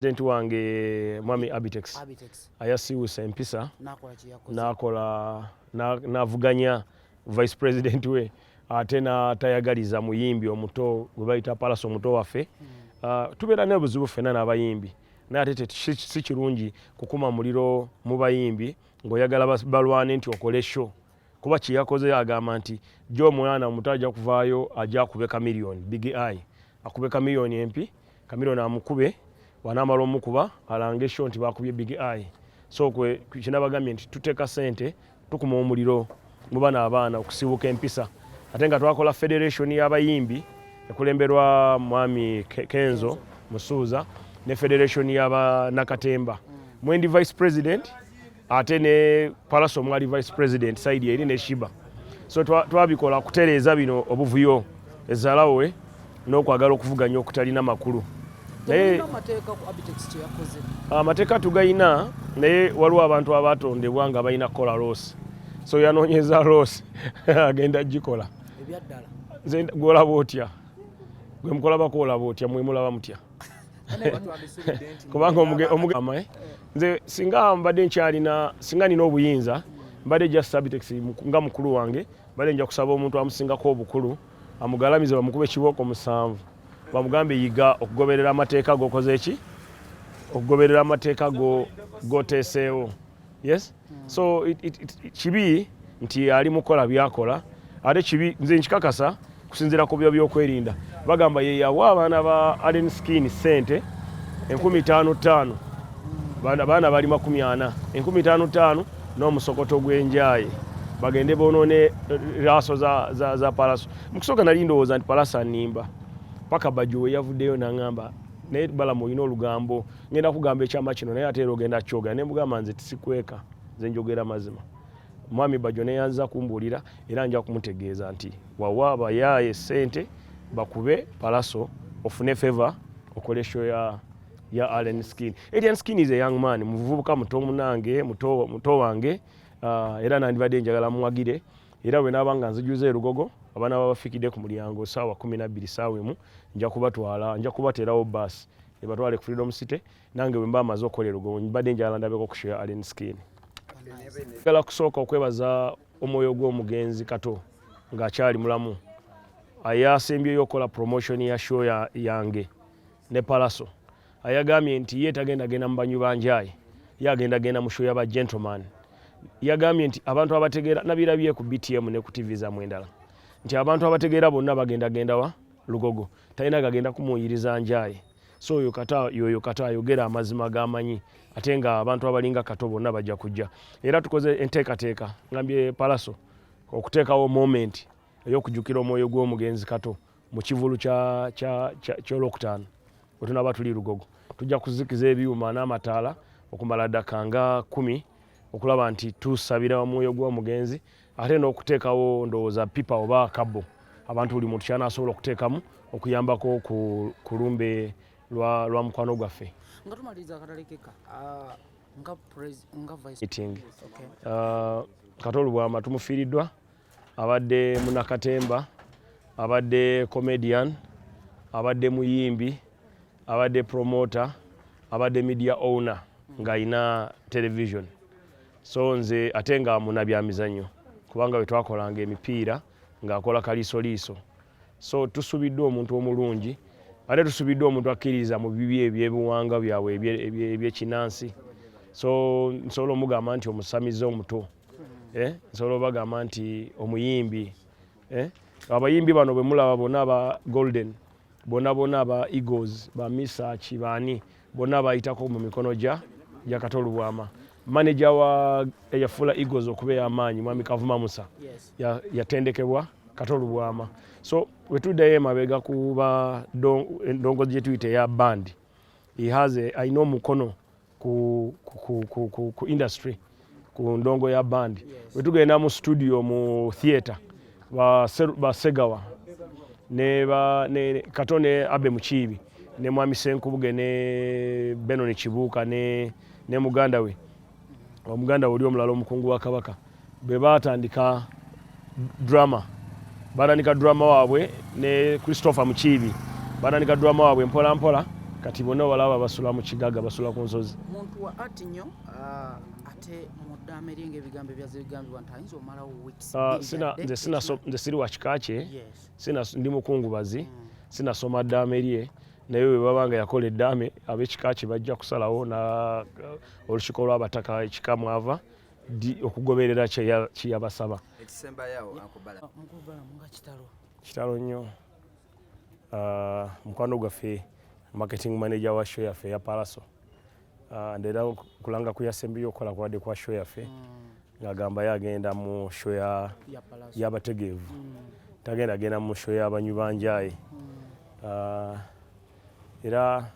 president wange mwami abitex ayasiwusa empisa nakola navuganya vice president we ate natayagaliza muyimbi omuto gwe bayita palasi omuto waffe hmm. ah, tubeera nebuzibu fena nabayimbi naye ate si kirungi kukuma muliro mu bayimbi ngaoyagala balwane nti okole sho kuba kyeyakoze agamba nti jo omwana omuto aja kuvaayo aja akubeka million big i akubeka million empi Chameleone amukube wanamala omukuba alange show nti bakubye big eye so kwe kinabagambye nti tuteka sente tukuma omuliro mu bana abaana okusibuka empisa ate nga twakola federation y'abayimbi ekulemberwa mwami Kenzo Musuuza ne federation y'aba Nakatemba mwendi vice president ate ne palasa omwali vice president saidi eri ne shiba so twabikola kutereeza bino obuvuyo ezalawe n'okwagala okuvuganya okutalina makulu naye amateeka tugayina naye waliwo abantu abatondebwa nga balina kukola loosi so yanoonyeza loosi agenda gikola gwolaba otya gwe mukolabako olaba otya mwemulaba mutya kubanga omugama eh? nze singa mbadde nkyalina singa nina obuyinza mbadde just subtex nga mukulu wange mbadde nja kusaba omuntu amusingako obukulu amugalamize bamukube kibooko musanvu bamugambe yiga okugoberera amateeka gokoze ki okugoberera amateeka goteeseewo yes mm. so it, it, it, kibi nti ali mukola byakola ate kibi nze nkikakasa kusinzira ku byo byokwerinda bagamba ye yawa abaana ba Allen Skin sente enkumi tano tano bana bana bali makumi ana enkumi tano tano no musokoto gwenjaye bagende bonone eh, raso za za, za palaso mkusoka nali ndowoza nti palasa nimba paka bajuwe yavudeyo nangamba naye bala moyino lugambo ngenda kugamba ekyama kino naye ate era ogenda kyogera ne mugamba nze tisikweka nze njogera mazima mwami bajo neyanza kumbuulira era nja kumutegeeza nti wawa bayaaye sente bakube palaso ofune favor okole show ya ya Allen Skin. Allen Skin is a young man, muvubuka muto munange, muto muto wange. Uh, era nandibadde njagala muwagire era bwe naaba nga nzijuza erugogo abaana babafikidde ku mulyango saawa kumi nabbiri saawa emu nja kubatwala nja kubateerawo baasi Nibatwale ku Freedom City nange bwe mba amaze okukola erugo mbadde njala ndabeko ku Sheikh Allen Skin. Njagala kusooka okwebaza omwoyo gw'omugenzi Kato ng'akyali mulamu ayasembyeyo okukola promotion ya show yange ne Palaso ayagambye nti ye tagenda genda mu banyu banjaye ye agenda genda mu show yaba gentleman yagambye nti abantu abategeera nabirabye ku BTM ne ku TV zamwe endala nti abantu abategeera bonna bagenda gendawa lugogo talina gagenda kumuwuyiriza njaye so oyo kata yoyo kata ayogera amazima gamanyi ate nga abantu abalinga kato bonna bajja kujja era tukoze enteekateeka ngambye palaso okuteekawo moment eyokujukira omwoyo gw'omugenzi kato mu kivulu kyolwokutaano wetunaba tuli lugogo tujja kuzikiza ebyuma n'amataala okumala ddaka nga kumi okulaba nti tusabira omwoyo gw'omugenzi ate n'okuteekawo ndowooza pipa oba kabo abantu buli muntu kyanasobola okuteekamu okuyambako ku lumbe lwa mukwano gwaffe nga tumaliriza akatale keka ah, nga vice meeting okay. uh, ah, katolu bwama tumufiiriddwa abadde munakatemba abadde comedian abadde muyimbi abadde promoter abadde media owner ng'alina television so nze ate nga muna byamizannyo kubanga bwe twakolanga emipiira ng'akola kaliisoliiso so tusubiddwa omuntu omulungi ate tusubiddwa omuntu akkiririza mu bibi ebyebiwanga byabwe ebyekinansi so nsobola omugamba nti omusamize omuto eh, nsobola obagamba nti omuyimbi eh, abayimbi bano bwe mulaba bona aba golden bona bona aba eagles ba misaki baani bona bayitako mu mikono gya gya katolubwama maneja wa eyafuula eagles okuba ey'amaanyi mwami kavuma musa yatendekebwa ya katolubwama so wetuddayo emabega kuba ndongozi gye tuyita eya bandi alina omukono ku, ku, ku, ku, ku industry ku ndongo ya bandi wetugenda mu studio mu theatre basegawa ne, ba, ne kato ne abe mukiibi ne mwami senkubuge ne benoni kibuuka ne, ne muganda we omuganda we oli omulala omukungu wa kabaka bwe baatandika drama baatandika drama waabwe ne christopher mukiibi baatandika drama waabwe mpola mpola kati bonna obalaba basula mu kigaga basula ku nsozi muntu wa art nyo ah, ate muddaama eri nga ebigambo ebyaze bigambibwa nti ayinza omalawo weeks ah, nze siri wa kika kye ndi mukungubazi mm. sinasoma ddaama erye naye bwe baba nga yakola eddaame ab'ekika kye bajja kusalawo na uh, olukiiko lw'abataka ekika mwava di okugoberera kyeyabasaba kitalo nnyo uh, mukwano gwaffe marketing manager wa show yaffe ya palaso uh, ndera kulanga kuyasembeyo okukola kwade kwa show yaffe mm. ngagamba yagenda mu show yabategeevu mm. tagenda agenda mu show yabanywi banjaye mm. uh, era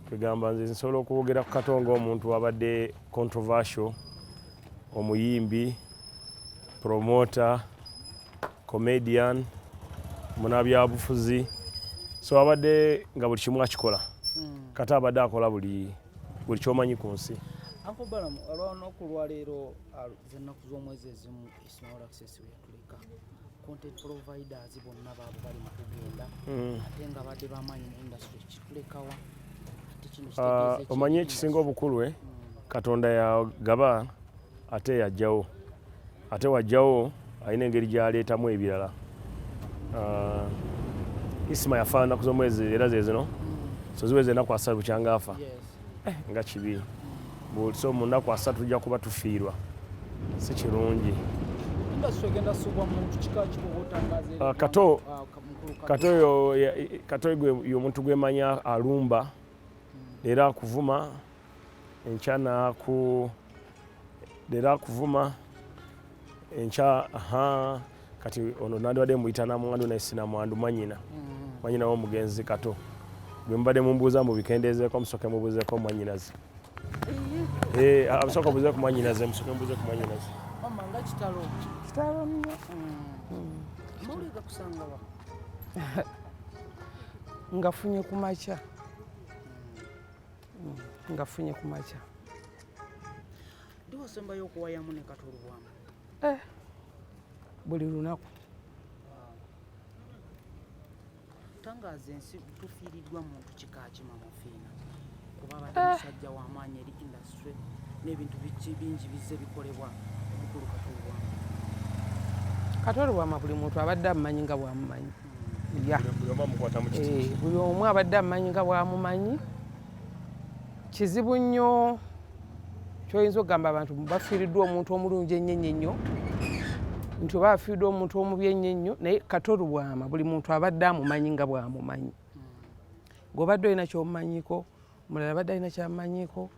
kwegamba nze nsobola okwogera ku kato ngaomuntu abadde controversial omuyimbi promota comedian munabyabufuzi so abadde nga buli kimu akikola hmm. kata abadde akola buli buli kyomanyi ku nsi anko balamu olwanaku lwaleero ah, zenaku zomwezi ezimu small access way tuleka content providers bonna baabo bali mu kugenda mm. ate nga badde bamaanyi mu industry kitulekawa ah, omanyi ekisinga obukulu e katonda yagaba ate yajjawo ate wajjawo alina engeri gyaleetamu ebirala ah, isima yafaanana ku zomwezi era zezino mm. so ziweza enaku asatu bukyanga afa eh, nga kibi bwotso mu nnaku asatu tujja kuba tufiirwa si kirungi ah, kato ah, kato yomuntu gwemanya alumba hmm. era akuvuma enkyana ku leero akuvuma enkya aha kati ono nandibadde muyita namwandu naye sinamwandu mwanyina mm. mwanyina womugenzi kato gwemubadde mumbuuza mubikendeezeeko musoke mubuuzeeko mwanyinaze eh, amusoka obuuze ku mwanyinaze musoke mubuuze ku mwanyinaze ngafunye kumakya mm, nga funye ku makya ndiwasembayo okuwayamu ne katolubwamu eh, buli lunaku tangaaza ensi tufiiriddwa muntu kika kimamufiina kuba abadde eh. musajja w'amaanyi eri indasitule n'ebintu bingi bizze bikolebwa omukulu katolubwamu katolubwama buli muntu abadde amumanyi nga bwamumanyi eh, buli omu abadde amumanyi nga bwamumanyi kizibu nnyo kyoyinza okugamba abantu bafiiriddwa omuntu omulungi ennyo ennyo ennyo nti oba afiiriddwa omuntu omubi ennyo ennyo naye katolubwama buli muntu abadde amumanyi nga bwamumanyi ngaobadde olina kyomumanyiko mulala abadde alina kyamumanyiko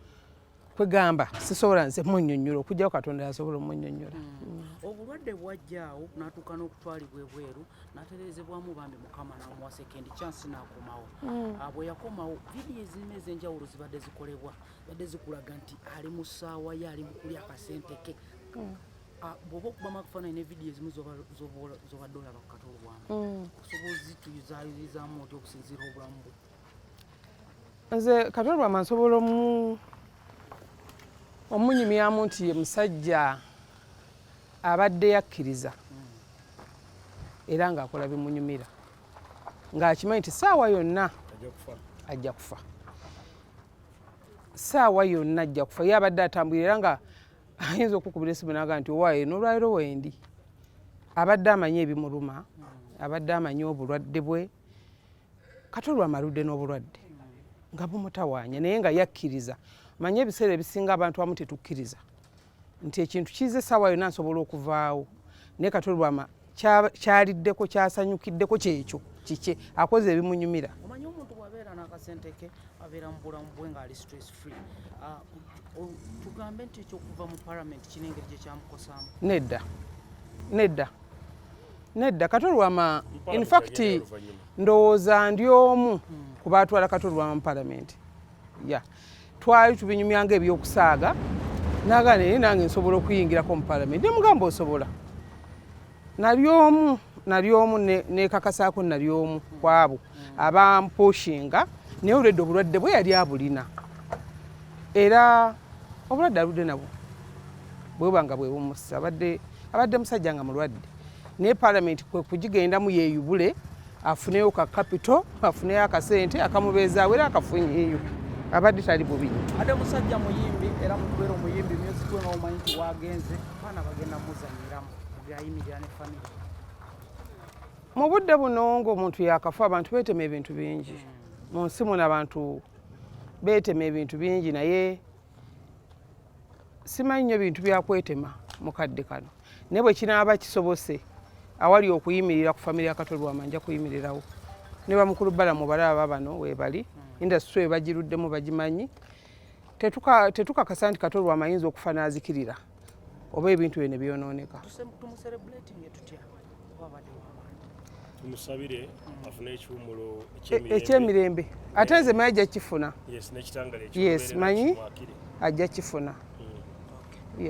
kwegamba sisobola nze munyonyola okujjako katonda yasobola omunyonyola hmm. obulwadde bwajjaawo natuuka n'okutwalibwa ebweru natereezebwamu bambi mukama namuwa sekendi kyansi nakomawo hmm. ah, bwe yakomawo vidiyo ezirina ez'enjawulo zibadde zikolebwa badde zikulaga nti ali mu ssaawa ye ali mukulya akasente ke hmm. ah, bwoba okubamu akafaananyi ne vidiyo ezimu zobadde olaba ku katolobwamu osobola ozituyuzayuyizamu oti okusinziira obulamu bwe nze katolwama nsobola omu omunyumyamu nti ye musajja abadde yakkiriza era ng'akola bimunyumira ng'akimanyi nti saawa yonna ajja kufa saawa yonna ajja kufa ye abadde atambulira era nga ayinza okukubira esimu naga nti owaye nolwaliro wendi abadde amanyi ebimuluma abadde amanyi obulwadde bwe kati olwo amaludde n'obulwadde nga bumutawaanya naye nga yakkiriza manye ebiseera ebisinga abantu amu tetukkiriza nti ekintu kiiza essaawa yonna nsobola okuvaawo naye kati olwama kyaliddeko kyasanyukiddeko kyekyo kikye akoze ebimunyumira akasenteke abeera mu bulamu bwe ng'ali stress free ah, tugambe nti ekyokuva mu palamenti kiri engeri gye kyamukosaamu nedda nedda Nedda katolwama in fact ndowooza ndi omu ku baatwala katolwama mu palamenti ya twali tubinyumya nga ebyokusaaga nagana naye nange nsobola okuyingirako mu palamenti nemugamba osobola nali omu nali omu nekakasaako nali omu kwabo abampushinga naye olwedde obulwadde bwe yali abulina era obulwadde aludde nabwo bwebanga bwebumusa abadde musajja nga mulwadde naye palamenti kwe kugigendamu yeeyubule afuneyo ka kapito afuneyo akasente akamubeezaawo era akafunyeeyo abadde tali bubi ate musajja muyimbi era mukubeera omuyimbi myuzik we nomumanyi nti wagenze baana bagenda muzanyiramu mugayimirira ne famiry mu budde buno ngaomuntu yakafa abantu betema ebintu bingi mu nsi muno abantu betema ebintu bingi naye simanyi nnyo bintu byakwetema mukadde kano naye bwe kinaaba kisobose awali okuyimirira ku famire ya katolwama nja kuyimirirawo ne bamukulu balamu balaba bano webali hmm. indasitry ebagiruddemu bagimanyi tetukakasa nti katolwama ayinza okufa n'azikirira oba ebintu bye ne byonooneka tumusabire afune ekiwumulo e-, ekyemirembe ate nze manyi ajja kifuna yes manyi ajja kifuna hmm.